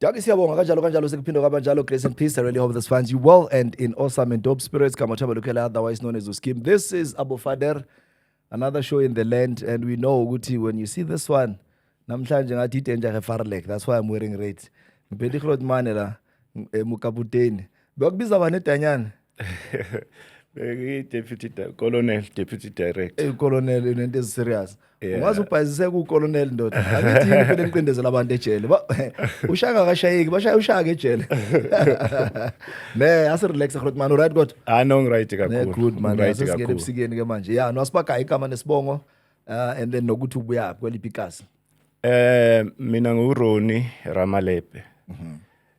Dagi siyabonga kanjalo kanjalo sekuphinde kwabanjalo grace and peace I really hope this finds you well and in awesome and dope spirits kama thaba lukhela otherwise known as Uskim this is Abu Fader another show in the land and we know ukuthi when you see this one namhlanje ngathi idanger ke Farlek that's why I'm wearing red ngiphethe ihlot mane la emukaputeni bekubiza bani edanyana deputy colonel deputy director eh colonel into is serious ungaze ubhayizise ku colonel ndoda angithi yini phela niqindezela abantu ejele ushaka akashayeki bashaya ushaka ejele ne ase relax grot man right god ah no right kakhulu good man right kakhulu singene ebusikeni ke manje yeah no asibagayi igama nesibongo uh, and then nokuthi ubuya kweliphi ikasi Eh mina nguRoni Ramalepe. Mhm.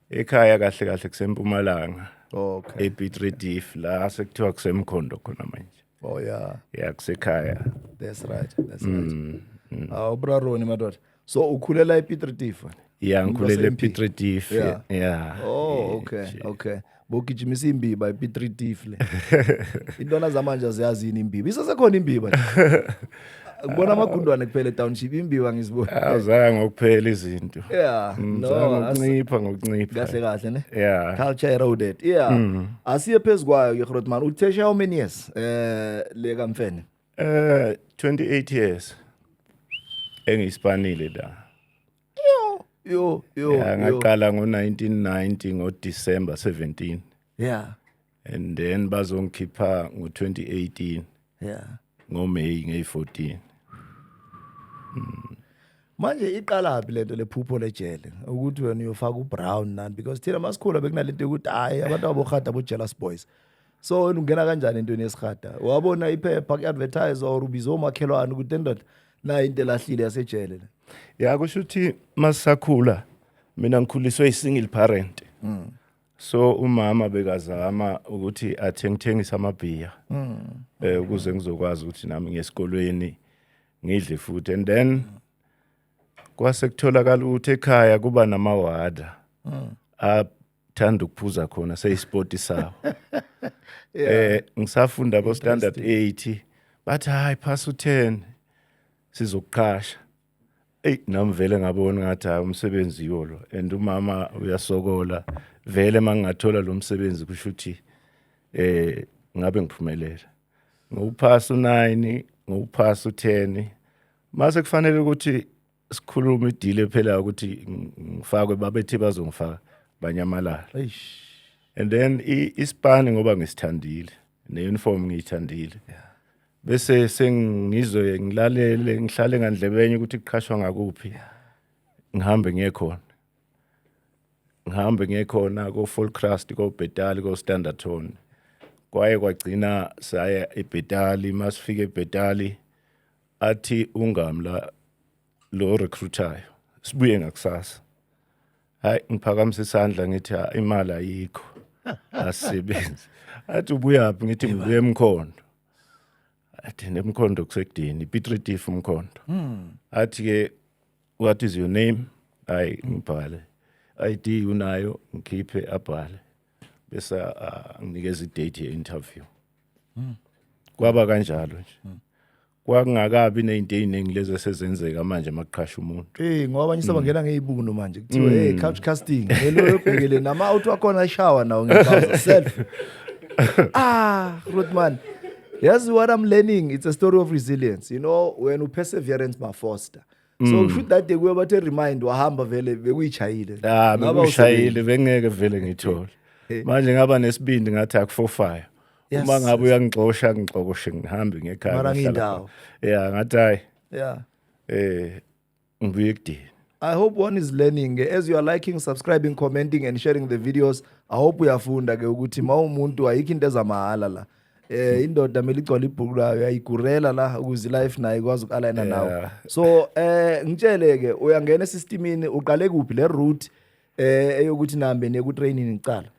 Ekhaya kahle kahle kusempumalanga. Okay. ePitredif la sekuthiwa kusemkhondo khona manje. Oh yeah. Yeah kusekhaya. That's right. That's right. Mm. mm. Awubraroni madoda. So ukhulela ePitredif wena? ya ngikhulele p3 diff ya yeah. oh okay okay bogijimisa imbiba ip3 diff le intwana zamanje ziyazi yini imbiba isasekhona imbiba kubona amagundwane kuphela etownship imbiwa ngizibona azaya ngokuphela izinto yeah mm, no ngokuncipha ngokuncipha kahle kahle ne yeah culture eroded yeah mm. asiye phezukwayo yegrotman uthesha how many years eh le kamfene eh 28 years engiyispanile la yo yo yo yeah, ngaqala ngo 1990 ngo December 17 yeah and then bazongikhipha ngo 2018 yeah ngo May nge 14 mm. manje iqalaphi lento lephupho lejele ukuthi wena uyofaka ubrown nani because thina masikhula bekunalento yokuthi hayi abantu abohada bo jealous boys so wena ungena kanjani entweni yesihada wabona iphepha ku-advertise or ubize omakhelwane ukuthi endoda nayo into elahlile yasejele le ya kusho ukuthi masisakhula mina ngikhuliswe i-single parent mm. so umama bekazama ukuthi athengithengise amabhiya mm. eh ukuze ngizokwazi ukuthi nami ngesikolweni ngidle futhi and then kwase kutholakala ukuthi ekhaya kuba namawada mm. thanda ukuphuza khona seyisport sawo eh ngisafunda ko standard 8 bathi hayi pass u 10 sizokuqhasha Ey nami vele ngabona ngathi hayi umsebenzi yolo and umama uyasokola vele mangingathola lo msebenzi kusho ukuthi eh ngabe ngiphumelela ngokuphasa u9 ngokuphasa u10 mase kufanele ukuthi sikhuluma idile phela ukuthi ngifakwe babethi bazongifaka banyamalala eish and then isipani ngoba ngisithandile ne-uniform ngiyithandile bese sengizwe ngilalele ngihlale ngandlebenye ukuthi kuqhashwa ngakuphi ngihambe ngiye khona ngihambe ngiye khona ko-full crust kobhetali ko-standard tone kwaye kwagcina saya ebhetali masifike ebhetali athi ungamla lo recruiter sibuye ngakusasa hayi ngiphakamisa isandla ngithi imali ayikho asisebenzi athi ubuyaphi ngithi ngibuye emkhondo athi nemkhondo kusekudini pitritif umkhondo hmm. athi ke what is your name hayi ngibhale id unayo ngikhiphe abhale bese uh, nginikeza idate ye interview mm. kwaba kanjalo nje mm. kwakungakabi nezinto eziningi lezi esezenzeka manje makuqhasha umuntu hey ngoba abanye sebangena mm. ngezibunu manje kuthiwa hey mm. couch casting hello yobhekele nama out wakhona shower nawo ngebaza self ah Ruthman yazi what i'm learning it's a story of resilience you know when uperseverance mafoster so mm. kushuthi that day kuye bathe remind wahamba vele bekuyishayile ah bekuyishayile bengeke vele ngithole manje ngaba nesibindi ngathi akufofaya uma ngabe uyangixosha ngixokoshe ngihambe ngekhaya mara ngindawo yeah ngathi hayi yeah eh ngibuye ekudini I hope one is learning as you are liking, subscribing, commenting and sharing the videos. I hope uyafunda ke ukuthi mawumuntu ayikho into ezamahala la. eh indoda mele igcwala ibhuku layo yayigurela la ukuze life naye ikwazi ukalayina nawo Yeah. so eh ngitshele ke uyangena esistemini uqale kuphi le route eh eyokuthi nihambe neku training icala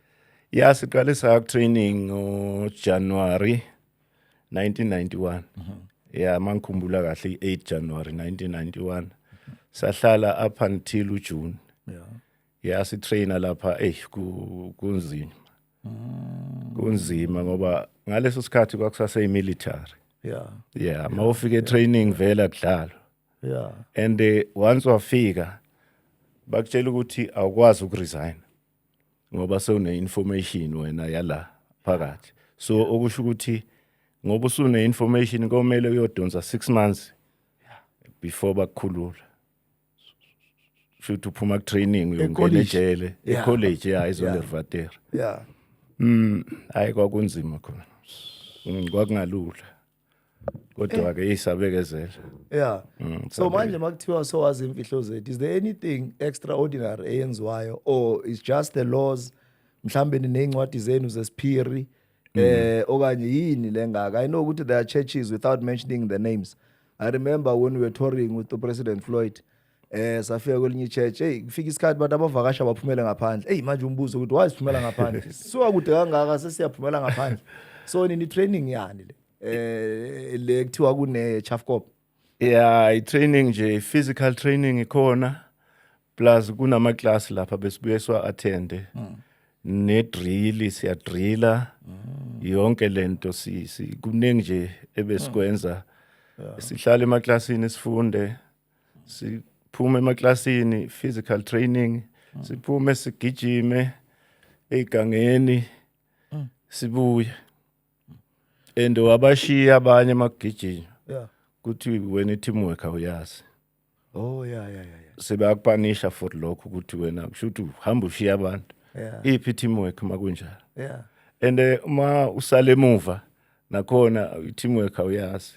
ya siqale sa training ngojanuwari 1991 ya mangikhumbula kahle i-8 januwari 1991 sahlala up until ujune ya sitraina lapha eyi ku- kunzima mm. kunzima ngoba ngaleso sikhathi kwakusase imilitary yeah yeah mawufika etraining vela kudlalo yeah and eh, once wafika bakutshela ukuthi awukwazi ukuresign ngoba sewune information wena yala phakathi so okusho ukuthi ngoba usune information komele uyodonsa 6 months before bakukhulula shuthi uphuma ku training uyongena ejele e college ya izondervater yeah mm hayi kwakunzima khona mm, kwakungalula kodwa ke isabekezela yeah mm, so manje makuthiwa so wazi imfihlo zethu is there anything extraordinary eyenziwayo or is just the laws mhlambe ninezincwadi zenu zesiphiri mm. eh okanye yini lengaka i know ukuthi there are churches without mentioning the names i remember when we were touring with the president floyd eh safika kwelinye ichurch hey kufika isikhathi abantu abavakasha baphumele ngaphandle hey manje umbuzo ukuthi why siphumela ngaphandle suka kude kangaka sesiyaphumela ngaphandle so nini training yani le eh le kuthiwa kune Chafcop yeah i training nje physical training ikhona plus kunama class lapha besibuye siwa attende mm. ne drill siya driller mm. yonke lento si, si kuningi nje ebesikwenza mm. yeah. sihlala emaklasini sifunde siphume emaklasini physical training mm. siphume sigijime egangeni mm. sibuye and wabashiya abanye emagijini yeah. kuthi wena i-teamwork awuyazi oh ya ya ya ya sebakupanisha for lokho ukuthi wena kusho ukuthi uhamba ushiya abantu Yeah. iphi teamwork makunjalo ya and eh, uma usale emuva nakhona i-teamwork awuyazi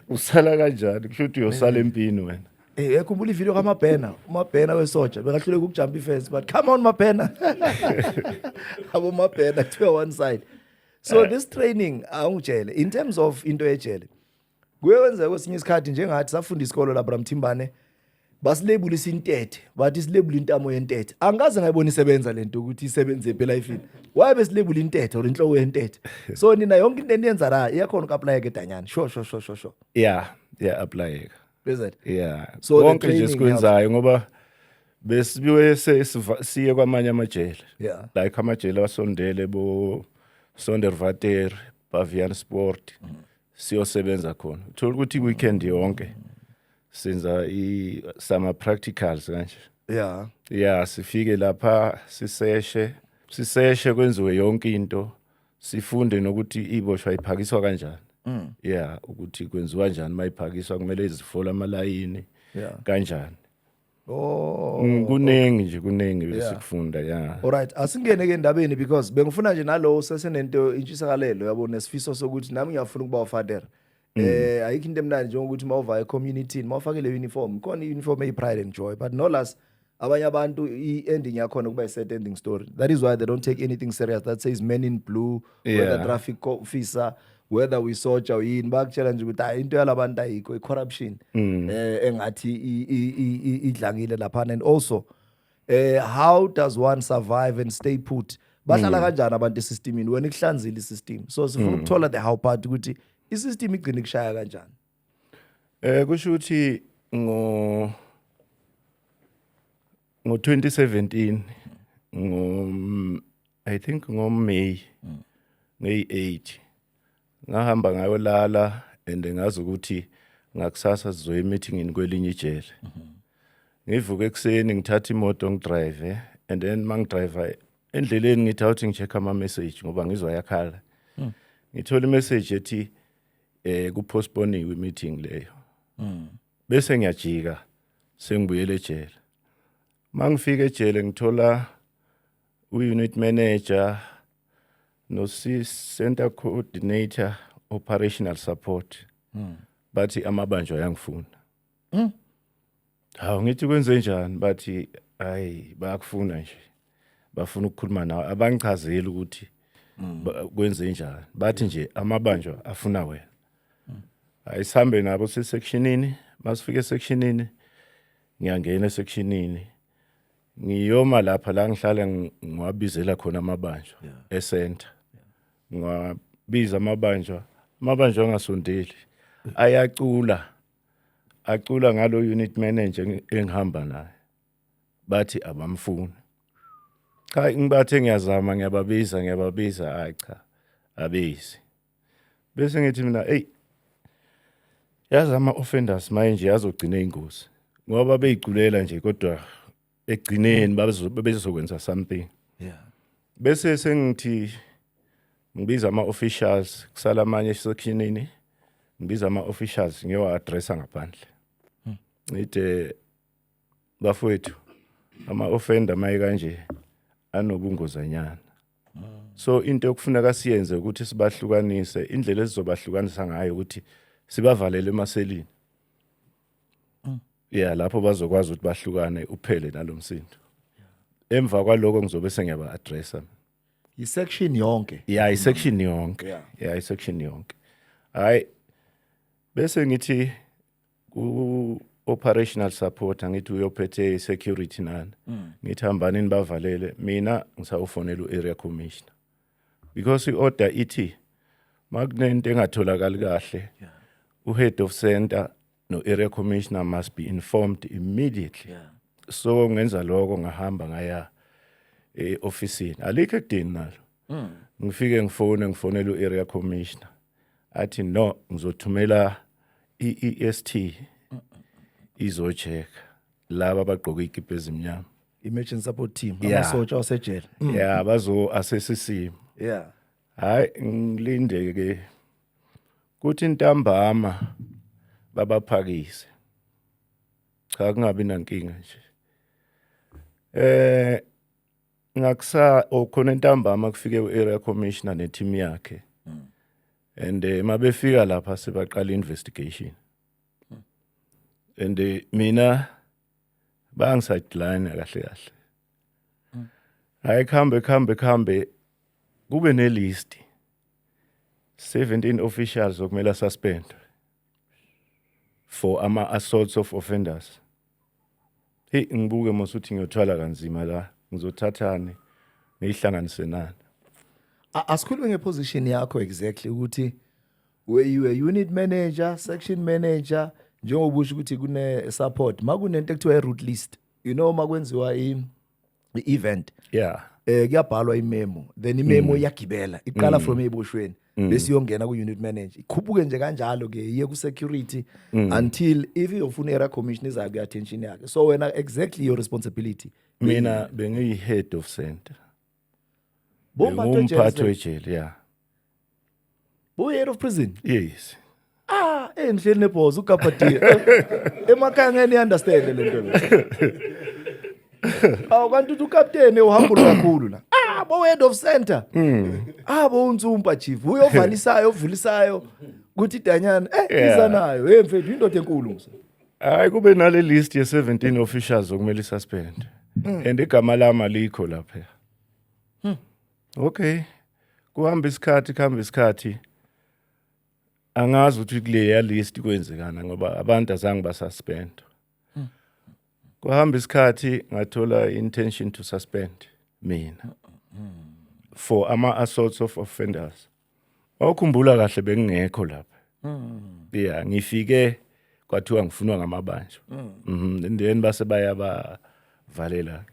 usala kanjani kusho ukuthi uyosala empini wena Eh yakhumbula ivideo kaMabhena, uMabhena wesoja bekahluleka ukujump ifence but come on Mabhena. Abo Mabhena kuthiwa one side. So this training awungitshele in terms of into ejele. kuye kwenzeka kwesinye isikhathi njengathi safunda isikolo labra mthimbane basilebulisa intethe bathi silebula intamo yentethe angikaze ngayibona isebenza lento ukuthi isebenze ephi elifini waye besilebula intethe or inhloko yentethe so nina yonke into eniyenza la iyakhona uku-aplayeka edanyana sho sho sho sho sho ya ya aplayeka is it ya So the konke nje training sikwenzayo ngoba besibiwe se- siva- siye kwamanye amajele Yeah. like amajele asondele bo sondervater bavian sport siyosebenza khona uthola ukuthi weekend yonke senza i summer practicals kanje yeah yeah sifike lapha siseshe siseshe kwenziwe yonke into sifunde nokuthi iboshwa iphakiswa kanjani mm. yeah ukuthi kwenziwa kanjani mayiphakiswa kumele izifola amalayini yeah. kanjani Oh. Mm, kuningi nje kuningi Yeah. besikufunda ya. Alright, asingene ke endabeni because bengifuna nje nalowo sesenento intshisakalelo yabo nesifiso sokuthi nami ngiyafuna ukuba ufader. Mm. Eh ayikho into emnandi njengokuthi mawuva ecommunity, mawufake le uniform, khona iuniform eyi pride and joy, but no less abanye abantu i-ending yakhona kuba i-sad ending story that is why they don't take anything serious that says men in blue yeah. whether traffic officer whether we soja yini bakutshela nje ukuthi hayi into yalabantu ayikho i-corruption mm. eh engathi idlangile laphana and also eh how does one survive and stay put bahlala mm. kanjani abantu esystemini wena ikuhlanzile isystem so sifuna mm. ukuthola the how part ukuthi isystem igcina ikushaya kanjani eh kusho ukuthi ngo ngo 2017 ngo i think ngoMay mm. ngeyi-8 ngahamba ngayolala and ngazi ukuthi ngakusasa sizoya emeetingini kwelinye ijele mm -hmm. ngivuke ekuseni ngithatha imoto ngidrive and then mangidrive endleleni ngithi awuthi ngi-check ama-message ngoba ngizwa yakhala mm. ngithola imessage ethi eh kuphostponiwe i-meeting leyo mm. bese ngiyajika sengibuyele ejele mangifika ejele ngithola uunit manager nosicenter coordinator operational support hmm. bathi amabanjwa ayangifuna hmm. hawu ngithi kwenze njani bathi hayi bayakufuna nje bafuna ukukhuluma nawe abangichazeli ukuthi hmm. kwenze njani bathi nje amabanjwa afuna wena hayi sihambe nabo sesectionini masifika esectionini ngiyangena esectionini ngiyoma lapha la ngihlala ngiwabizela khona amabanjwa yeah. esenta yeah. ngiwabiza amabanjwa amabanjwa angasondeli ayacula acula ngalo unit manager engihamba naye bathi abamfuni cha ngibathe ngiyazama ngiyababiza ngiyababiza hayi cha abezi bese ngithi mina eyi yazi ama-offenders maye nje azogcina ingozi ngoba babeyiculela nje kodwa ekugcineni babezokwenza something yeah bese sengithi ngibiza ama-officials kusala amanye esekhinini ngibiza ama-officials ngiyowa-adressa ngaphandle hmm. ngide eh, bafowethu ama-offender maye kanje anobungozanyana so into yokufuneka siyenze ukuthi sibahlukanise indlela esizobahlukanisa ngayo ukuthi sibavalele emaselini yeah lapho bazokwazi ukuthi bahlukane uphele nalomsindo emva kwaloko ngizobe sengiyaba addressa isection yonke yeah isection yonke yeah isection yonke hayi bese ngithi ku operational support angithi uyophethe security nani mm. ngithi hambani nibavalele mina ngisawufonela uarea commissioner because iorder ithi makunento engatholakali kahle uhead of center no area commissioner must be informed immediately yeah. so ngenza lokho ngahamba ngaya e office alikho ekudini nalo mm. ngifike ngifone ngifonela uarea commissioner athi no ngizothumela i-EST izocheck laba abagqoke ikipa ezimnyama emergency support team Yeah. amasosha wasejele Mm, ya bazo assess isimo yeah hayi ngilinde ke kuthi intambama babaphakise cha kungabi nankinga nje eh ngakusa oh, khona entambama kufike u-area commissioner neteam yakhe and eh, uma befika lapha sebaqala investigation and eh, mina bangisadeline kahle kahle hayi kuhambe kuhambe kuhambe kube nelist 17 officials okumele asuspendwe for ama assaults of offenders hey ngibuke mosuthi ngiyothwala kanzima la ngizothathani ngihlanganise nani asikhulume ngeposition yakho exactly ukuthi were you a unit manager section manager njengoba usho ukuthi kune support makunento ekuthiwa i root list you know makwenziwa i i-event yeah eh kuyabhalwa imemo then imemo mm. iyagibela iqala mm. from ebushweni mm. bese iyongena ku unit manager ikhuphuke nje kanjalo ke iye ku security until if iyofuna era commission iza ku attention yakhe so wena exactly your responsibility mina bengiyi head of center bomba to jele yeah Buye out of prison. Yes. Ah, eh ngihleli nebhozo uGabadiya. Emakhaya ngeke ni understand le nto. Awu kanti uthi ukapteni uhamba kakhulu la. Ah, bo head of center. Mm. Ah, bo unsumpa chief. Uyovalisayo, ovulisayo. Kuthi danyana, eh yeah. iza nayo. Hey mfethu indoda enkulu mse. Hayi kube nale list ye 17 officials okumele suspend. Mm. And igama lama likho lapha. okay kuhamba isikhathi kuhamba isikhathi angazi ukuthi kuleya list kwenzekana ngoba abantu azange basuspend hmm. kuhamba isikhathi ngathola intention to suspend mina for ama assaults of offenders awukhumbula kahle bengingekho lapha hmm. yeah ngifike kwathiwa ngifunwa ngamabanjwa hmm. mhm then base bayaba valela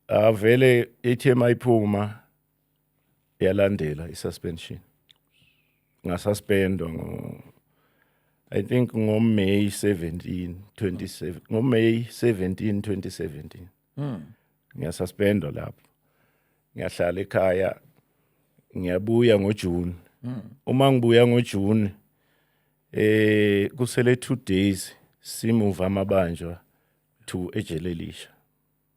avele ithi emayiphuma yalandela isuspension ngasuspendwa ngo I think ngo May 17 27 ngo May 17 2017 mm. ngiyasuspendwa lapho ngiyahlala ekhaya ngiyabuya ngo June mm. uma ngibuya ngo June eh kusele 2 days simuva amabanjwa to ejele lisha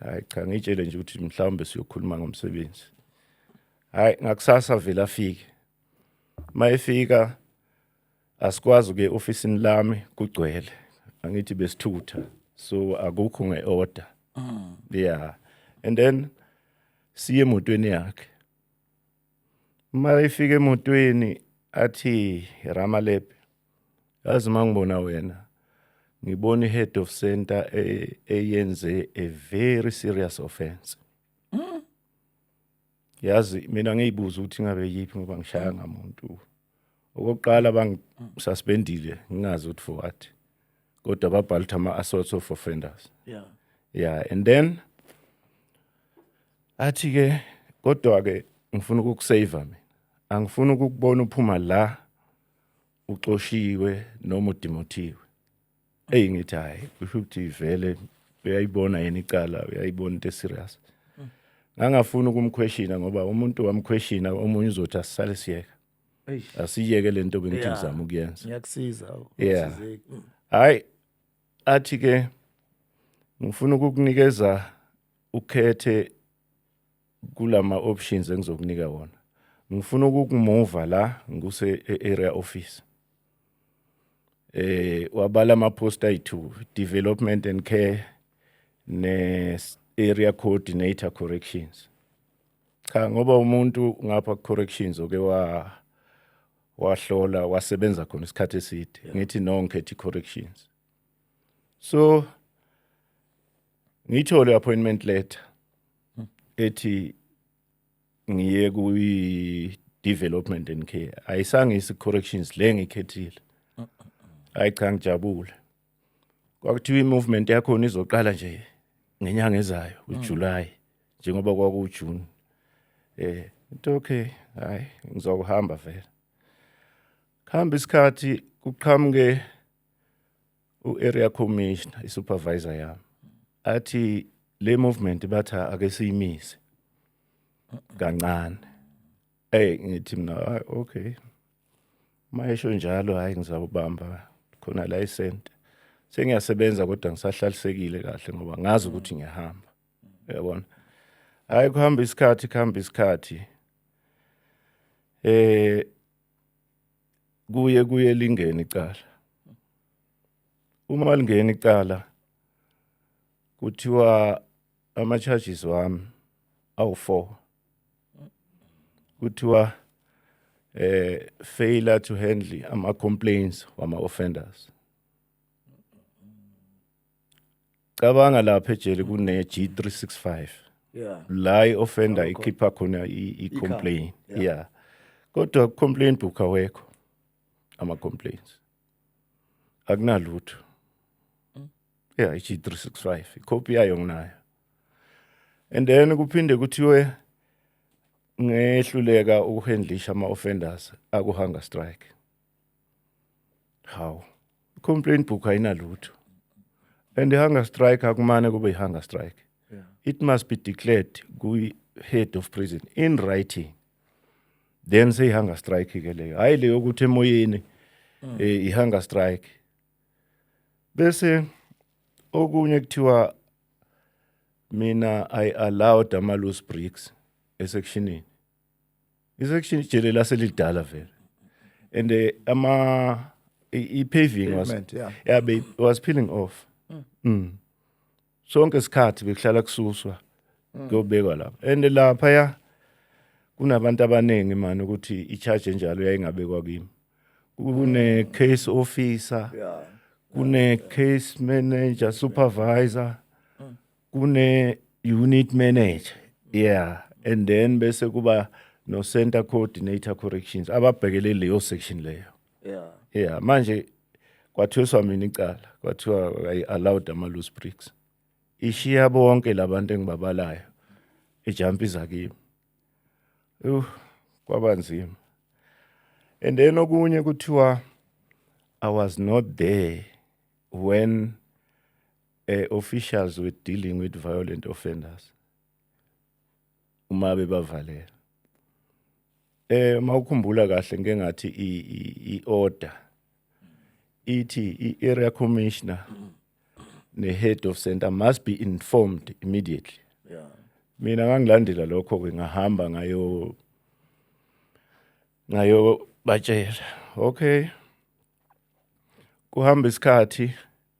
hayi cha ngitshele nje ukuthi mhlawumbe siyokhuluma ngomsebenzi hayi ngakusasa vele afike mayefika asikwazi ke ofisini lami kugcwele angithi besithutha so akukho ngeorder mm. yeah and then siye emotweni yakhe uma efika emotweni athi ramalebe yazi uma ngibona wena ngibona i-head of center e- eyenze a very serious offense yazi mina ngiyibuza ukuthi ngabe yiphi ngoba ngishaya ngamuntu okokuqala bangisuspendile ngingazi ukuthi for what kodwa babhala ukuthi ama-assaults of offenders yeah yeah and then athi ke kodwa ke ngifuna ukukusave mina angifuni ukukubona uphuma la uxoshiwe noma udimothiwe eyi ngithi hhayi kusho ukuthi vele uyayibona yena icala uyayibona into eserious ngangafuni ukumkhweshina ngoba umuntu wamkhweshina omunye uzothi asisale siyeka asiyeke le nto bengithi ngizama ukuyenza ngiyakusiza yeah mm. hhayi athi ke ngifuna ukukunikeza ukhethe kulama options engizokunika wona ngifuna ukukumuva la ngikuse e-area office eh wabala ama post ayi2 development and care ne area coordinator corrections cha ngoba umuntu ngapha corrections oke wa wahlola wasebenza khona isikhathi eside ngithi no ngikhethe corrections so ngithole appointment letter ethi ngiye kuyi development and care ayisange isi corrections le ngikhethile hayi cha ngijabule kwakuthiwa i-movement yakhona izoqala nje ngenyanga ezayo ujuly njengoba kwakuwujune eh into okay hayi ngizokuhamba vele khamba isikhathi kuqhamuke u-area commissioner i-supervisor yami athi le movement bathi ake siyimise kancane ey ngithi mina hayi okay mayesho njalo hayi ngizawubamba khona la isente sengiyasebenza kodwa ngisahlalisekile kahle ngoba ngazi ukuthi ngiyahamba uyabona hayi kuhamba isikhathi kuhamba isikhathi eh kuye kuye lingene icala uma lingena icala kuthiwa ama charges wami awu4 kuthiwa eh failure to handle ama complaints wama offenders cabanga lapha ejele kune G365 yeah la i-offender ikhipha khona i- i-complain yeah. yeah kodwa ku-complain book awekho ama-complaints akunalutho yeah i-g365 ikhophi yayo nginayo and then kuphinde kuthiwe ngehluleka ukuhandlisha ama-offenders akuhunger strike hawu complaint book ayinalutho and i-hunger strike akumane kube i-hunger strike yeah. it must be declared kwi-head of prison in writing then seyi-hunger strike ke leyo hhayi leyo ukuthi emoyeni mm. eh, i-hunger strike bese okunye kuthiwa mina i allowed ama-loose bricks esekshinini Isection ijele laselidala vele. And eh, ama i i- paving was Pavement, yeah. yeah be was peeling off. Mm. Sonke isikhathi bekuhlala kususwa kuyobekwa lapha. And lapha ya kunabantu abaningi manje ukuthi i charge enjalo yayingabekwa kimi. Kune case officer. Yeah. kune case manager supervisor kune unit manager yeah and then bese kuba no center coordinator corrections ababhekele leyo section leyo yeah yeah manje kwathuswa mina icala kwathiwa i allowed ama loose bricks ishiya bonke labantu engibabalayo ejumpa izakimi uh kwaba nzima and then okunye kuthiwa i was not there when eh officials with dealing with violent offenders uma bebavalela eh mawukhumbula kahle ngeke ngathi i order ithi i area commissioner ne head of center must be informed immediately yeah mina ngangilandela lokho ke ngahamba ngayo ngayo batshela okay kuhamba isikhathi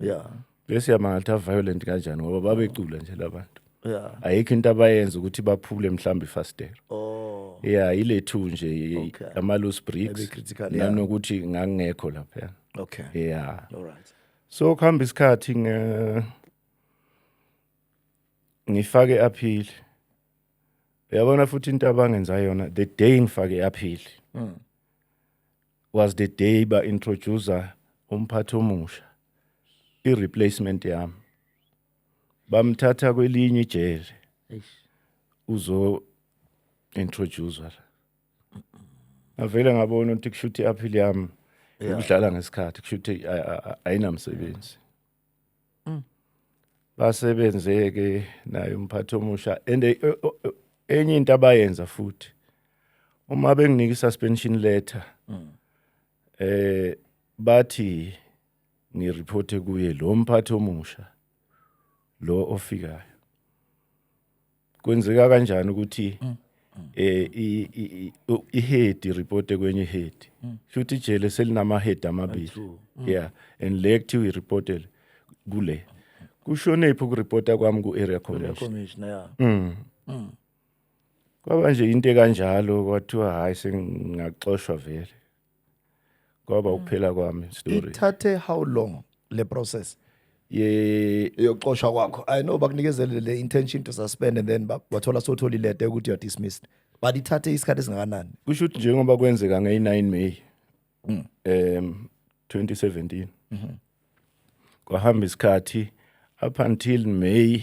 yeah bese yamangatha violent kanjani ngoba babecula nje labantu yeah ayikho into abayenza ukuthi baphule mhlambi fastero oh yeah ile two nje Okay. ama loose Maybe bricks critical, yeah. nanokuthi ngangekho lapha okay yeah all right so kuhamba isikhathi nge ngifake appeal uyabona futhi into abangenza yona the day ngifake appeal was the day ba introducer umphathi omusha i replacement yami bamthatha kwelinye ijele uzo introducer la ngavele ngabona ukuthi kushuthi appeal yami ukudlala ngesikhathi kushuthi ayinamsebenzi mm. basebenze ke naye umphathi omusha and eh, eh, eh, enye into abayenza futhi uma benginika i-suspension letter mm. eh bathi ngireport kuye lo mphathi omusha lo ofikayo kwenzeka kanjani ukuthi mm. eh ihead report kwenye head mm. futhi ijele selinama head amabili mm. yeah and le kuthiwa ireportele kule kushone ipho kureporta kwami ku area commissioner yeah mm. mm. kwaba nje into kanjalo kwathiwa hayi sengaxoshwa vele kwaba ukuphela kwami story ithathe how long le process ye yokuxoshwa kwakho i know bakunikezele le intention to suspend and then ba- wathola sotholi lete yokuthi you're dismissed but ithathe isikhathi esingakanani kusho ukuthi njengoba kwenzeka ngeyi-9 may um 2017 kwahamba isikhathi up until may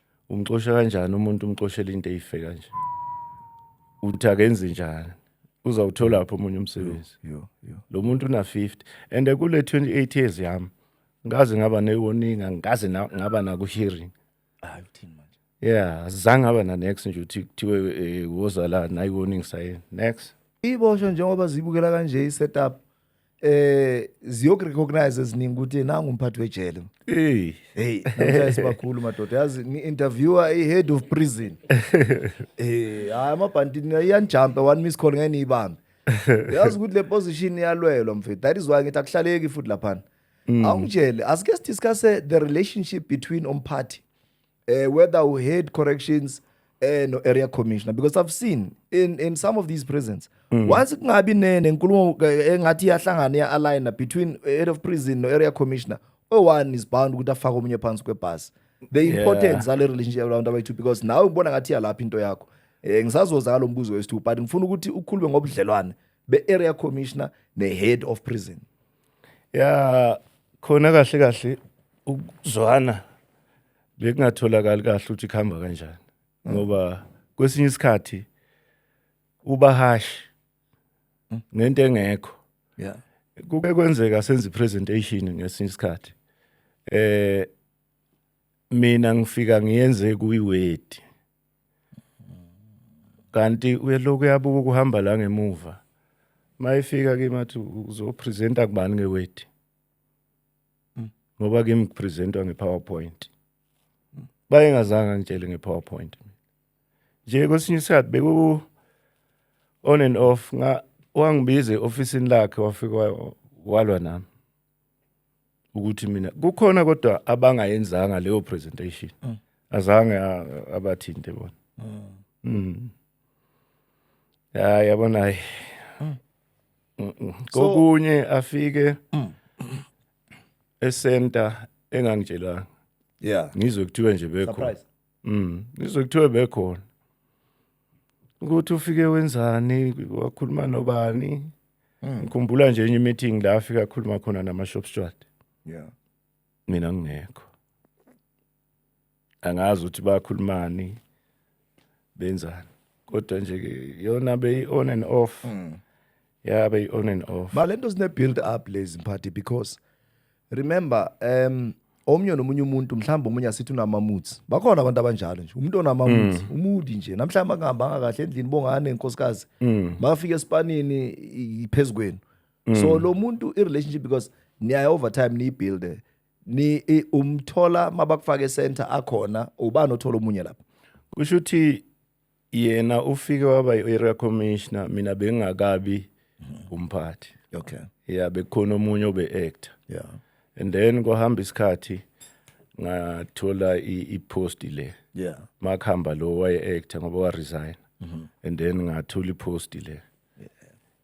umxosha kanjani umuntu umxoshela into eyife kanje uthi akenzi njani uzawuthola lapho omunye umsebenzi lo muntu una 50 and kule 28 years yami ngaze ngaba ne warning angikaze ngaba naku hearing hayi uthini manje yeah azange aba na next nje uthi kuthiwe eh, woza la nayi warning sayena next iboshwe njengoba zibukela kanje i setup eh ziyokurecognize eziningi ukuthi nangu umphathi wejele hey hey namhlanje bakhulu madoda yazi ngi-interviewer i-head of prison eh hayi amabhantini iyanijampa one miss call ngeke niyibambe yazi ukuthi le position iyalwelwa mfethu that is why ngithi akuhlaleki futhi laphana mm. awungitshele asike sidiscusse the relationship between umphathi uh, whether u head corrections eh no area commissioner because i've seen in in some of these prisons mm. once kungabi ne nenkulumo eh, engathi iyahlangana ya aligner between head of prison no area commissioner owane is bound ukuthi afake omunye phansi kwebhasi the yeah. importance sale relationship around abayithu because nawe ubona ngathi yalapha into yakho eh ngisazoza ngalombuzo wesithu but ngifuna ukuthi ukhulume ngobudlelwane be area commissioner ne head of prison ya khona kahle kahle ukuzwana bekungatholakali kahle ukuthi kuhamba kanjani ngoba kwesinye isikhathi uba harsh ngento engekho yeah kuke kwenzeka senza ipresentation ngesinye isikhathi eh mina ngifika ngiyenze kuyiwedi kanti uyelokhu uyabuka ukuhamba la ngemuva mayefika kimi athi uzopresenta kubani ngewedi ngoba kimi kupresentwa nge-powerpoint bayengazange angitshele nge-powerpoint nje kwesinye isikhathi beku on and off nga wangibiza e-ofisini lakhe wafika walwa nami ukuthi mina kukhona kodwa abangayenzanga leyo presentation mm. azange abathinte bona mm. mm. ya yabona hayi mm. kokunye afike mm. esenta engangitshelanga yeah ngizwe kuthiwe nje bekho Mm, ngizwe kuthiwe bekhona. Ukuthi ufike wenzani, wakhuluma nobani? Mm. Ngikhumbula nje enye meeting la afika akhuluma khona nama shop steward. Yeah. Mina ngingekho. Angazi ukuthi bakhulumani benzani. Kodwa nje ke yona be on and off. Mm. yeah be on and off Ba lento zine build up lezi mphathi because remember um omnye nomunye umuntu mhlawumbe omunye asithi unamamoods bakhona abantu abanjalo nje umuntu onamamoods mm. umudi nje namhlawumbe angahambanga kahle endlini bongane inkosikazi mm. makafika esipanini iphezu kwenu mm. so lo muntu i-relationship because niyaye over time niyibuilde ni i- umthola mabakufake center akhona ubani othola omunye lapho kusho ukuthi yena ufike waba i-area commissioner mina bengingakabi umphathi okay yeah bekukhona omunye obe-actor yeah and then kwahamba isikhathi ngathola i-post le yeah makuhamba lo waye-actor ngoba waresign and then ngathola i-post le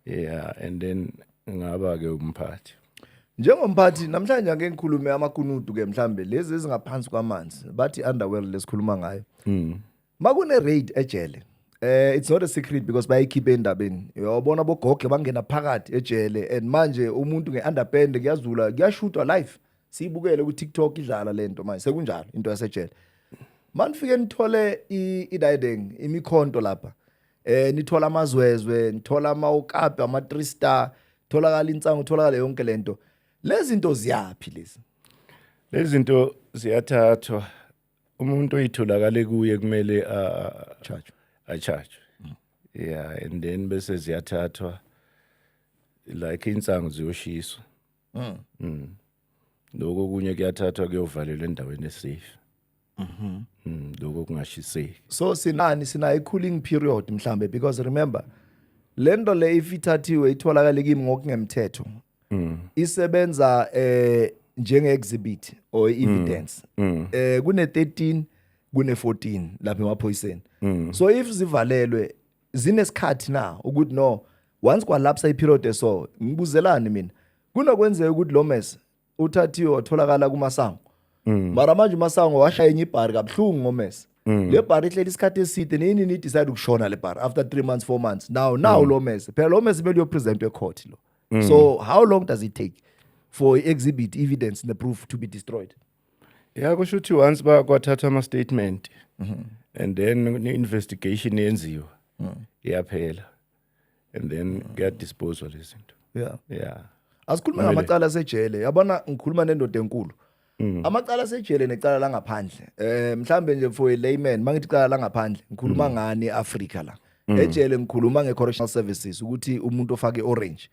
yeah and then ngaba-ke umphathi njengomphathi namhlanje ake ngikhulume amakunudu-ke mhlawumbe lezi ezingaphansi kwamanzi bathi underworld lesikhuluma ngayo makune raid ejele eh it's not a secret because bayikhiphe endabeni uyabona bogogle bangena phakathi ejele and manje umuntu ngeunderpand kuyazula kuyashutwa live siyibukele ku TikTok idlala lento manje sekunjalo into yasejele manifike nithole ididing imikhonto lapha eh nithola amazwezwe nithola ama ukapi ama 3 star tholakala insangu tholakala yonke lento lezi zinto ziyaphi lezi lezi zinto ziyathathwa umuntu oyitholakale kuye kumele charge acharge mm. yeah and then bese ziyathathwa like insangu ziyoshiswa mm. mm. lokho kunye kuyathathwa kuyovalelwa endaweni esafe mhm mm, lokho kungashiseki so sinani sina i-cooling period mhlambe because remember lento le if ithathiwe itholakale kimi ngokungemthetho mm. isebenza eh njenge exhibit or mm. evidence mm. eh kune 13 kune 14 lapha emaphoyiseni mm. so if zivalelwe zinesikhathi na ukuthi no once kwalapsa iperiod eso ngibuzelani mina kunokwenzeka ukuthi lo mess uthathiwe watholakala kumasango mm. mara manje umasango washaya enye ibhari kabuhlungu ngomesa mm. le bhari ihleli isikhathi eside nini nidecide ukushona le bhari after three months four months now now mm. lo mesa phela lo mesa kumele uyopresentwa ecourt lo Mm. So how long does it take for exhibit evidence the proof to be destroyed? Yeah, kusho ukuthi once ba kwathathwa ama statement mm -hmm. and then ne investigation yenziwa mm. iyaphela and then mm. get disposal izinto. Yeah. Yeah. Asikhuluma ngamacala sejele. Yabona ngikhuluma nendoda enkulu. Mm. amacala asejele necala langaphandle eh mhlambe nje for a layman mangithi cala langaphandle ngikhuluma mm. ngani eAfrica la mm. ejele ngikhuluma ngecorrectional services ukuthi umuntu ofake orange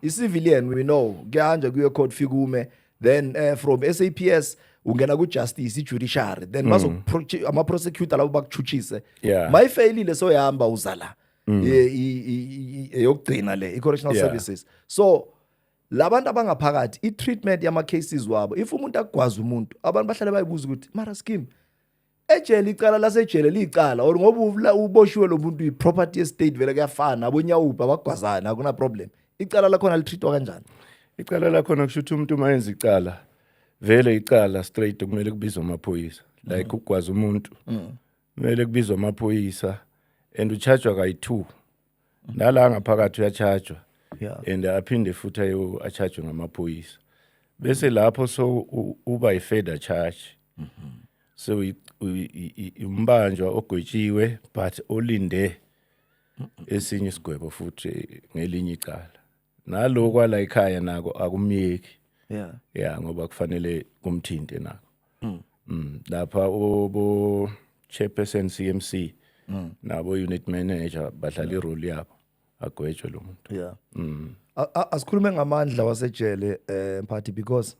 icivilian we know kuyanje kuye court fikume then uh, from SAPS ungena ku justice ijudiciary then bazo ama prosecutor labo bakuchuchise my failile so yahamba uzala eyokugcina le icorrectional services so labantu abangaphakathi i-treatment yama-cases wabo if umuntu akugwaza umuntu abantu bahlale bayibuza ukuthi mara skim ejele icala lasejele liyicala or ngoba uboshiwe lo muntu i-property estate vele kuyafana abonyawuphi abagwazana akunaproblem icala lakhona litreatwa kanjani icala lakhona kusho ukuthi umuntu uma yenza icala vele icala straight kumele kubizwe amaphoyisa like mm. ukugwaza umuntu mm. kumele kubizwe amaphoyisa and ucharjwa kayi-two nala ngaphakathi uyachajwa yeah. and aphinde futhi ayo achajwe ngamaphoyisa bese lapho so uba i-further charge mm -hmm. so umbanjwa ogwetshiwe but olinde esinye isigwebo futhi ngelinye icala nalo kwala ikhaya nako akumyeki yeah yeah ngoba kufanele kumthinte nako mm. Mm, lapha obo chairperson CMC mm. nabo unit manager badlala yeah. irole yabo agwetshwe lo muntu yeah mm. asikhulume ngamandla wasejele eh mphathi because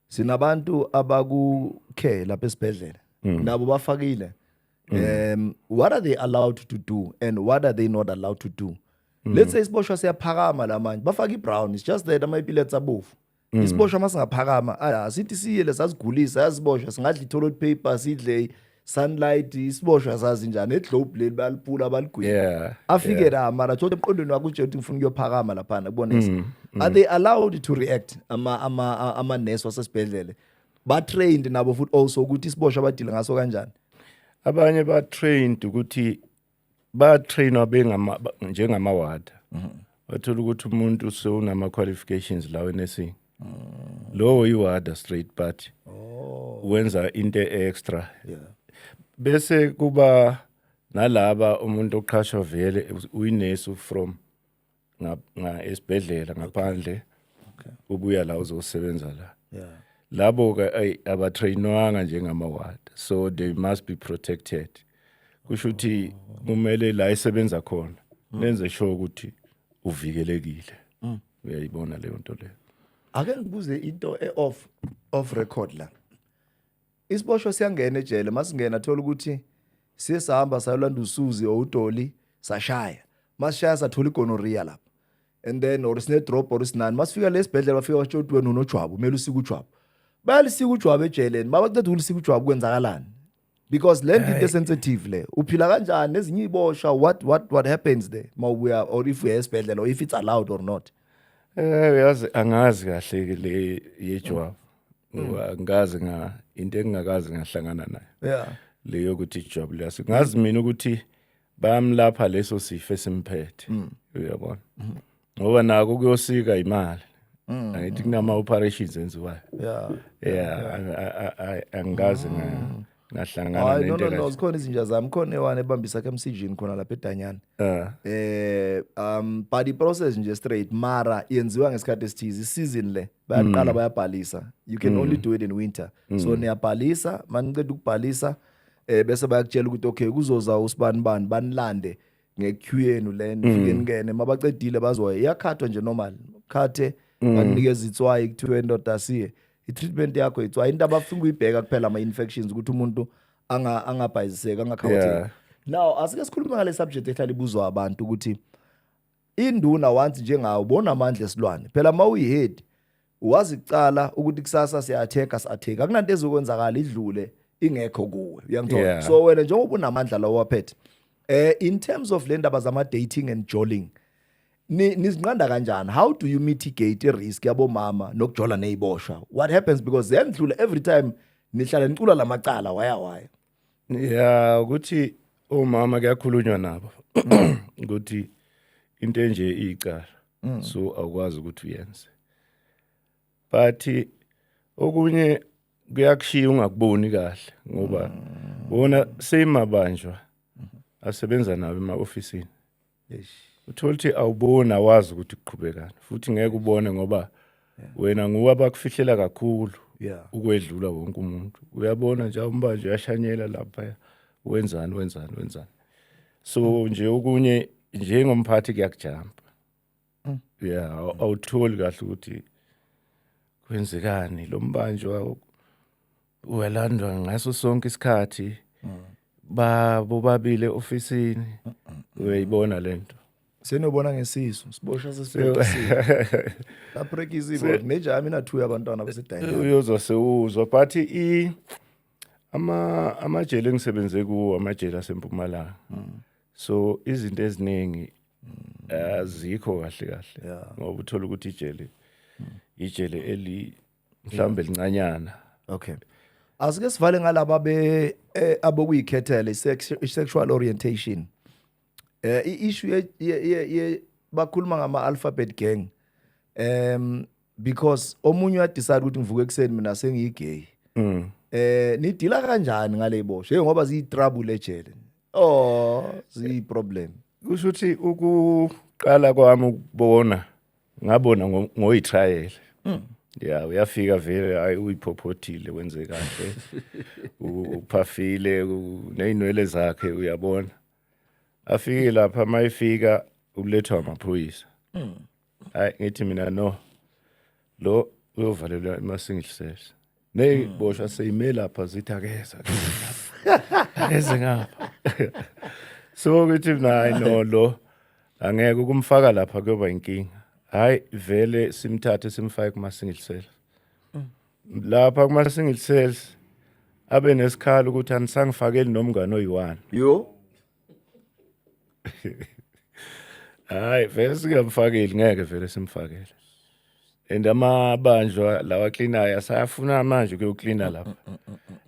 sinabantu abakukhe lapha esibhedlela mm. nabo bafakile mm. um what are they allowed to do and what are they not allowed to do Mm. Let's say isiboshwa siyaphakama la manje. Bafaka iBrown. It's just that ama epilepsy abovu. Mm. Isiboshwa masingaphakama. Ah, sithi siye lesasigulisa yasiboshwa singadla itholo paper sidle sunlight isiboshwa sazi njani eglobe leli balipula baligwini yeah, afike yeah. la mara thola emqondweni wakho nje ukuthi ngifuna ukuyophakama lapha kubonisa mm, mm. are they allowed to react ama ama ama nurse wasesibhedlele ba trained nabo futhi also ukuthi isiboshwa badile ngaso kanjani abanye ba trained ukuthi bayatrainwa bengama njengama ward wathola ukuthi umuntu sewunama qualifications lawe nesing lowo iwada straight party oh. wenza into extra yeah. bese kuba nalaba umuntu oqhashwa vele uyinesi from nga, nga esibhedlela ngaphandle okay. ubuya la uzosebenza la yeah. labo ke abatrainwanga njengama ward so they must be protected kusho ukuthi kumele la esebenza khona mm. lenze sure ukuthi uvikelekile mm. uyayibona leyo nto leyo ake ngibuze into e off off record la isiboshwa siyangena ejele masingena thola ukuthi siye sahamba sayolanda usuzi or udoli sashaya masishaya sathola igonorrhea lapha and then or sine drop or sinani masifika lesibhedlela bafika basho ukuthi wena unojwabu kumele usike ujwabu bayalisika ujwabu ejeleni babaqeda ukulisika ujwabu kwenzakalani because le nto into sensitive le uphila kanjani nezinye ibosha what what what happens there mawubuya or if uya esibhedlela or if it's allowed or not eh uyazi angazi kahle ke le yejwabu Mm. Ngikaze nga into engingakaze ngahlangana nayo. Yeah. Leyo ukuthi ijob liyasi. Ngazi mina ukuthi bayamlapha leso sifo esimphethe. Mm. Uyabona? Mm-hmm. Ngoba nako kuyosika imali. Mm. Angithi kunama operations enziwayo. Yeah. Yeah, angikaze nga ngahlangana hayi no nento no no kanje. zikhona izinja zami khona ewane ebambisa ke msijini khona lapha edanyana Eh, eh um but i process nje straight mara yenziwa ngesikhathi esithize season le bayaqala bayabhalisa you can only do it in winter so niyabhalisa maniceda ukubhalisa eh bese bayakutshela ukuthi okay kuzoza usibani bani banilande ngequeue yenu le nifike ningene mabaqedile bazoya iyakhathwa nje normal khathe banikeza itswayi kuthiwe indoda asiye i-treatment yakho itswayi into abafuna ukuyibheka kuphela ama-infections ukuthi umuntu anga- angabhayiziseki angakhawatheki Yeah. now asike sikhulume ngale subject ehlala ibuzwa abantu ukuthi induna once njengawo bona amandla esilwane phela uma uyihead wazi kucala ukuthi kusasa siyatheka siyatheka akunanto ezokwenzakala idlule ingekho kuwe uyangithola Yeah. so wena njengoba unamandla lawo waphethe eh in terms of le ndaba zama-dating and joling nizinqanda kanjani how do you mitigate i-risk yabomama nokujola neyiboshwa what happens because ziyandlula every time nihlale nicula la macala waya waya ya ukuthi omama kuyakhulunywa nabo ukuthi into enje iyicala mm. so awukwazi ukuthi uyenze but okunye kuyakushiya ungakuboni kahle ngoba mm. wona same mabanjwa asebenza nawo ema-ofisini uthola ukuthi awuboni awazi ukuthi kuqhubekani futhi ngeke ubone ngoba wena nguwe abakufihlela kakhulu ukwedlula wonke umuntu uyabona nje umbanje uyashanyela lapha wenzani wenzani wenzani so nje okunye njengomphathi kuyakujampa mm. yeah awutholi kahle ukuthi kwenzekani lo mbanjwa uyalandwa ngaso sonke isikhathi mm. ba bobabile ofisini uyayibona lento senobona ngesisu sibosha sesibeka la break izibo nejami na two abantwana bese dayini uyozwa sewuzwa but i ama amajele engisebenze kuwo amajele asempumalanga mm. so izinto eziningi azikho mm. uh, kahle kahle yeah. ngoba uthola ukuthi ijele mm. ijele eli mhlawumbe lincanyana okay asike sivale ngalaba be eh, abokuyikhethela i-sexual orientation eh i-issue ye bakhuluma ngama alphabet gang um because omunye uyadecide ukuthi ngivuke ekuseni mina sengiyigay mm. eh nidila kanjani ngale bosho hey ngoba ziyi trouble ejele oh ziyi problem kusho ukuthi ukuqala kwami ukubona ngabona ngoyitrial mm. ya uyafika vele hayi uyiphophothile wenze kahle uphafile nezinwele zakhe uyabona afike lapha mayifika ulethwa amaphoyisa mm. hayi ngithi mina no lo uyovalelwa emasingihliseshe neziboshwa hmm. seyime lapha zithi akeza akeze ngapha so ukuthi mina hayi no lo angeke ukumfaka lapha kuyoba inkinga hayi vele simthathe simfake kumasingihliseshe hmm. lapha kumasingihliseshe abe nesikhala ukuthi anisangifakeli nomngane oyiwani yo Hayi vele singamfakeli ngeke vele simfakele. And amabandla lawa cleanayo asayafuna manje ukuyoklina lapha.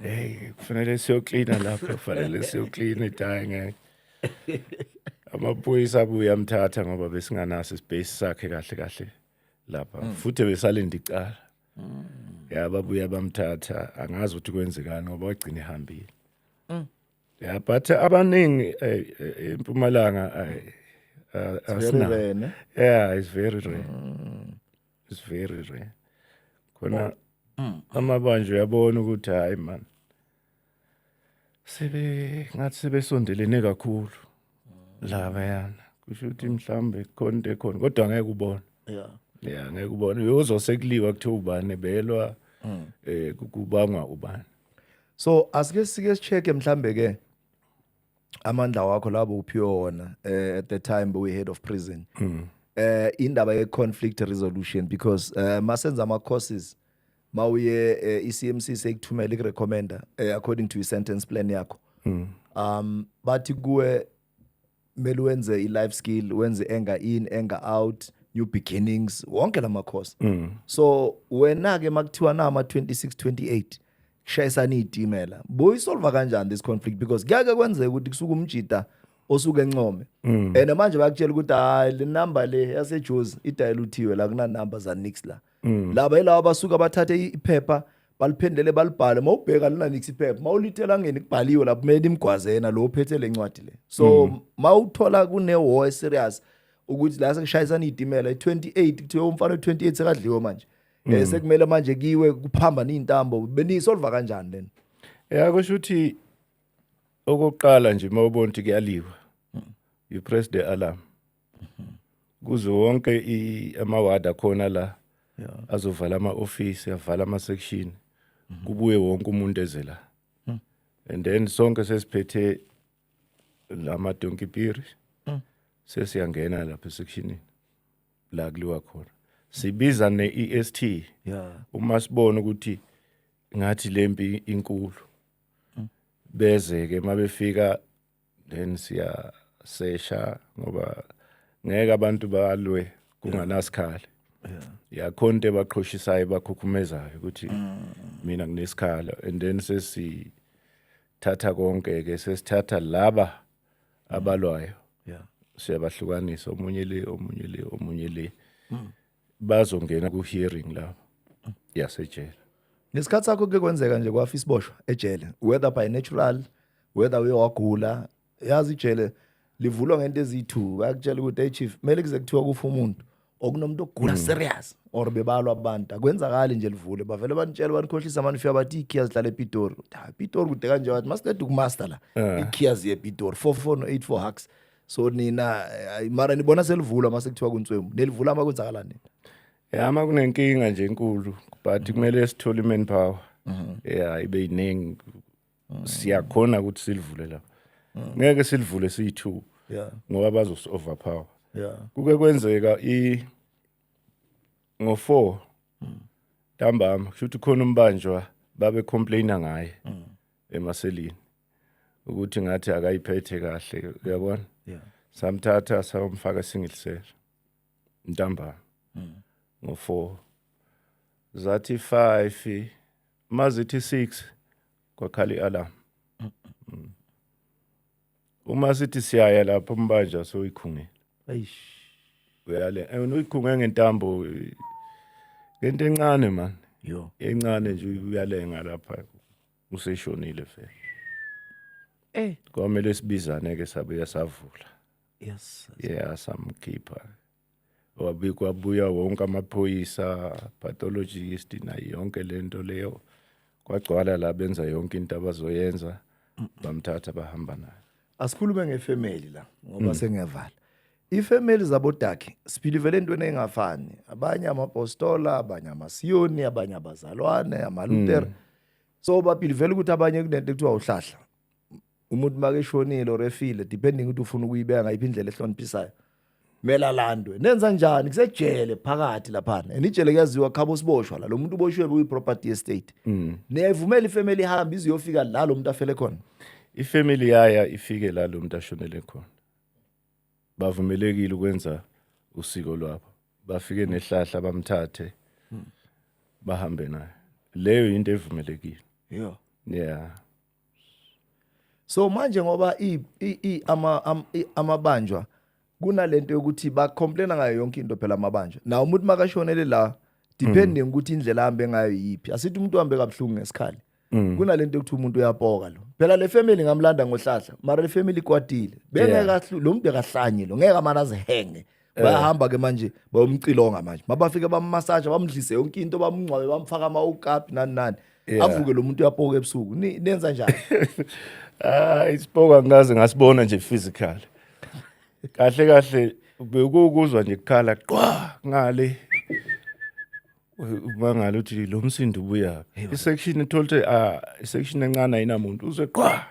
Hey kufanele siyoklina lapha kufanele siyoklina idayi ngeke. Amaphoyisa abuye amthatha ngoba besinganaso ispace sakhe kahle kahle lapha. Mm. Futhi besalinde icala. Mm. Ya babuye bamthatha angazi ukuthi kwenzekani ngoba wagcina ehambile. yeah but abaningi eh, eh, impumalanga eh, asina yeah it's very rare mm. it's very rare khona oh. mm. amabanje uyabona ukuthi hayi man sebe ngathi sebesondelene kakhulu lavayana kusho ukuthi mhlawumbe khona into ekhona kodwa ngeke ubone yeah yeah ngeke ubone uyozose kuliwa kuthiwa ubani ebelwa mm. eh kubangwa ubani so asike sike sicheke mhlambe ke amandla wakho labo uphiwe wona eh, at the time we head of prison mm. eh indaba ye conflict resolution because uh, masenza ama courses mawuye eh, iCMC sekuthumela ikurecommender eh, according to i-sentence plan yakho mm. um bathi kuwe mele wenze i-life skill wenze enga in enga out new beginnings wonke la makhosi mm. so wena-ke makuthiwa na ama-26 28 kushayisana iy'timela boyisolva kanjani this conflict because kuyake kwenzeka ukuthi kusuke umjida osuke encome mm. and manje bakutshela ukuthi hayi le number le yasejozi idayeluthiwe la kunanumber zanix la mm. mm. laba yilaba basuka bathathe iphepha baliphendele balibhale mawubheka lina nix iphepha mawulithela ngeni kubhaliwe lapho kumele imgwazena lo phethe lencwadi le so mm. mawuthola kune war serious ukuthi la sekushayisana izitimela i28 kuthiwa umfana we28 sekadliwe manje mm. eh sekumele manje kiwe kuphamba izintambo benisolva kanjani lena yeah kusho ukuthi okokuqala nje mawubona ukuthi kuyaliwa mm. you press the alarm kuze wonke amaward akhona la azovala ama-ofisi avala ama-section mhm. kubuye wonke umuntu eze la hmm. and then sonke sesiphethe la madonki piri hmm. sesiyangena lapha esekshinini la kuliwa khona sibiza ne-est uma sibona ukuthi ngathi le mpi inkulu hmm. beze-ke uma befika then siyasesha ngoba ngeke abantu balwe kunganasikhala yakhona into ebaqhoshisayo ebakhukhumezayo ukuthi mina nginesikhala and then sesithatha konke-ke sesithatha laba abalwayo yeah siyabahlukanisa omunye le omunye le omunye le bazongena ku hearing la yasejele ngesikhathi sakho kuke kwenzeka nje kwafa isiboshwa ejele whether by natural whether uye wagula yazi ijele livulwa ngento ezithu bayakutshela ukuthi hey chief kumele kuze kuthiwa kufa umuntu okunomuntu ogula mm. serious or bebalwa abantu akwenzakali nje livule bavele banitshela banikhohlisa manje ufika bathi ikhiya zidlala epitori ha pitori kude kanje wathi masiqeda ukumaster la eh. ikhiya ziye epitori 4484 hacks so nina eh, mara nibona selivulwa mase kuthiwa kuntswemu nelivula uma kwenzakala nini ya uma kunenkinga nje enkulu but kumele sithole i-man power mhm. ya ibe yiningi mhm. siyakhona ukuthi silivule la mhm. ngeke silivule siyi-two ngoba bazosi-overpower kuke kwenzeka i ngo-four ntambama kusho ukuthi khona umbanjwa babe complaina ngaye emaselini ukuthi ngathi akayiphethe kahle uyabona yeah samthatha samfaka single cell ntambama mm. ngo 4 zathi 5 mazithi 6 kwakhala ialarm mm. uma sithi siyaya lapho umbanja soyikhungela eish uyale eh, uyikhunge ngentambo ngento encane man yo encane nje uyalenga lapha useshonile fe eh kwamele sibizane ke sabuya savula yes yeah samkhipha wabikwa buya wonke amaphoyisa pathologist nayo yonke lento leyo kwagcwala la benza yonke into abazoyenza bamthatha bahamba naye asikhulume ngefamily la ngoba mm. sengiyavala ifamily zabodakhe siphilivele entweni engafani abanye amapostola abanye amasiyoni abanye abazalwane amalutera mm. so bapilivele ukuthi abanye kunento ekuthiwa uhlahla umuntu makeshonile or efile depending ukuthi ufuna ukuyibeka ngayiphi indlela ehloniphisayo kumele alandwe nenza njani kusejele phakathi laphana and ijele kuyaziwa khabo siboshwa la lo muntu uboshiwe kuyi-property estate mm. niyayivumela ifamily ihambe ize iyofika la lo muntu afele khona ifamily yaya ifike la lo muntu ashonele khona bavumelekile ukwenza usiko lwabo bafike nehlahla bamthathe hmm. bahambe naye leyo yinto evumelekile yeah yeah so manje ngoba i i ama amabanjwa kunalento yokuthi ba complain ngayo yonke into phela amabanjwa na umuntu makashonele la depending mm. ukuthi indlela ahambe ngayo yipi asithi umuntu uhambe kabhlungu ngesikhali mm. kunalento yokuthi umuntu uyapoka lo phela le family ngamlanda ngohlahla mara le family kwatile bengeka lo muntu akahlanye lo ngeke amana zihenge Eh. bayahamba ke manje bayomcilonga manje mabafike bammasaja bamdlise yonke into bamngcwabe bamfaka ama-okapi nani nani Yeah. avuke lo muntu uyapoka ebusuku Ni- nenza njani Ah, isipoko angikaze ngasibona nje physical. Kahle kahle bekukuzwa nje kukhala qwa ngale. Ubangala uthi lo msindo ubuya. Isection itholte ah isection encane ayinamuntu uzwe qwa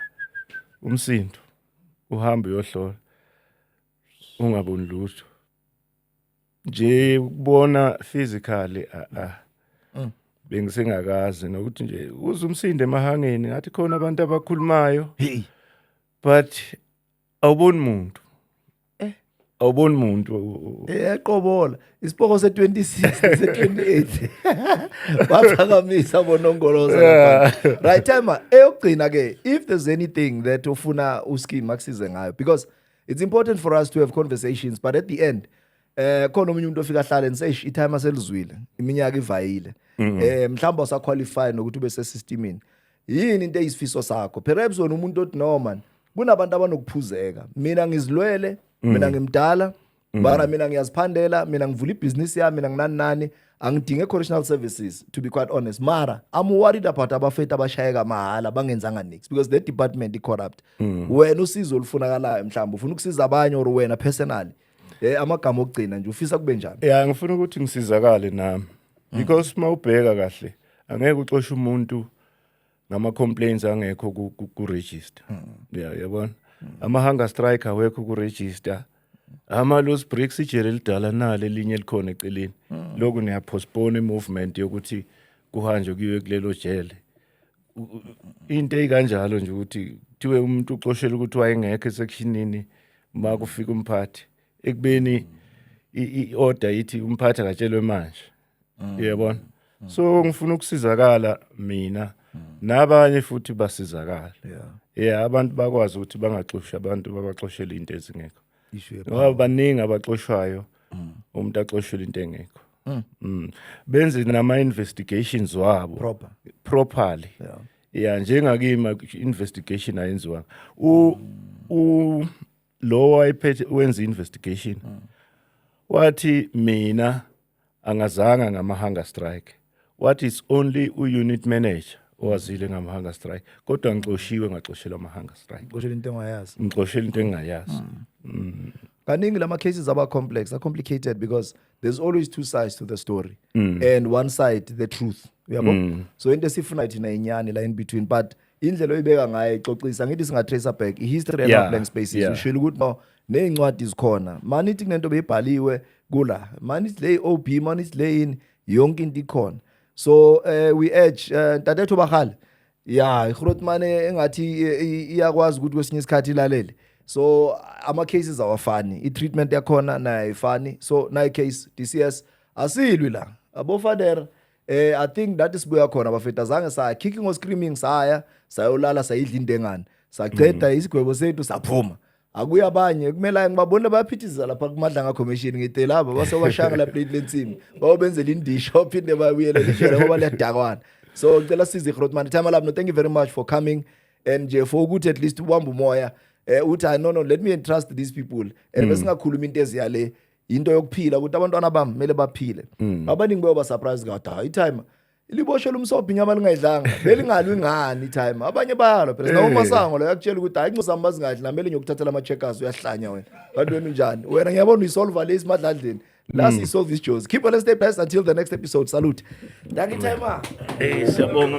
umsindo. Uhamba uyohlola. ungaboni lutho nje ukubona physically a a mm. bengisengakazi nokuthi nje uze umsinde emahangeni ngathi khona abantu abakhulumayo hey but awuboni umuntu eh. awuboni umuntu eqobola eh, isipoko se 26 se 28 baphakamisa bonongoloza right time eyokugcina ke if there's anything that ufuna uski maksize ngayo because it's important for us to have conversations but at the end eh khona omunye umuntu ofika ahlale nise i time aselizwile iminyaka ivayile mm-hmm. eh mhlawumbe usa qualify nokuthi ube sesystemini yini into eyisifiso sakho perhaps wena umuntu othi no man kunabantu abanokuphuzeka mina ngizilwele mina mm-hmm. ngimdala mm-hmm. mara mina ngiyaziphandela mina ngivula ibhizinisi yami mina nginani nani angidinge correctional services to be quite honest mara i'm worried about abafethu abashayeka mahhala bangenzanga nix because the department i-corrupt mm. wena usizo olufunakalayo mhlawumbe ufuna ukusiza abanye or wena personally um amagama okugcina nje ufisa kube njani ya ngifuna ukuthi ngisizakale nami mm. because uma ubheka kahle angeke uxoshe umuntu ngama complaints angekho ku, ku, ku register mm. yeah yabona mm. ama hunger strike awekho ku register ama loose bricks ijele elidala nale linye likhona eceleni mm. lokhu niya postpone i movement yokuthi kuhanjwe kuyiwe kulelo jele into eyikanjalo nje ukuthi kuthiwe umuntu uxoshela ukuthi wayengekho esekshinini uma kufika umphathi ekubeni i-order ithi umphathi akatshelwe manje mm. yebona mm. so ngifuna ukusizakala mina mm. nabanye futhi basizakala yeah yeah abantu bakwazi ukuthi bangaxoshi abantu babaxoshele into ezingekho ngoba baningi abaxoshwayo mm. umuntu axoshele into engekho mm. mm. benze nama investigations wabo proper properly yeah yeah njengakima investigation ayenziwa u u lowo wayephethe wenza investigation mm. wathi mina angazanga ngama hunger strike what is only u unit manager owazile ngama hunger strike kodwa ngixoshiwe ngaxoshelwa ama hunger strike ngixoshela into engayazi ngixoshela into engayazi mm. mm. kaningi lama cases aba complex are complicated because there's always two sides to the story mm. and one side the truth uyabo mm. so into esifuna thina inyani la in between but indlela oyibeka ngayo ixoxisa ngithi singa tracer back i history and yeah. blank spaces yeah. ushilo ukuthi no nezincwadi zikhona manithi kunento beyibhaliwe kula manithi le OB manithi le yini yonke into ikhona so uh, we edge eh, ntatethu uh, bakhale ya ihrotman engathi iyakwazi ukuthi kwesinye isikhathi ilalele so ama cases awafani i treatment yakhona nayo ayifani so nayi case DCS asilwi la abofadera eh i think that isibuya khona bafethu azange saya kicking or screaming saya sayolala sayidla indengane saqeda mm. isigwebo sethu saphuma akuye abanye kumele ngibabona bayaphithiza lapha kumadlanga commission ngite laba basewashaka la plate lensimi bawobenzela indisho phinde babuyele lishela ngoba liyadakwana so ngicela size Grootman time lab no thank you very much for coming and nje for ukuthi at least ubamba umoya eh uthi no no let me entrust these people and mm. besingakhuluma into eziyale yinto yokuphila ukuthi abantwana bami kumele baphile mm. abaningi bayoba surprise kathi hayi itime liboshe lumsobhi inyama lingayidlanga belingalwi ngani itime abanye bayalo phela nawo masango lo yakutshela ukuthi hayi incosi zami bazingadli namele ngiyokuthathela ama-checkers uyahlanya wena kanti wena unjani wena ngiyabona uyisolva le isimadlandleni la siyisolve isijozi keep on stay blessed until the next episode salute danki timer hey siyabonga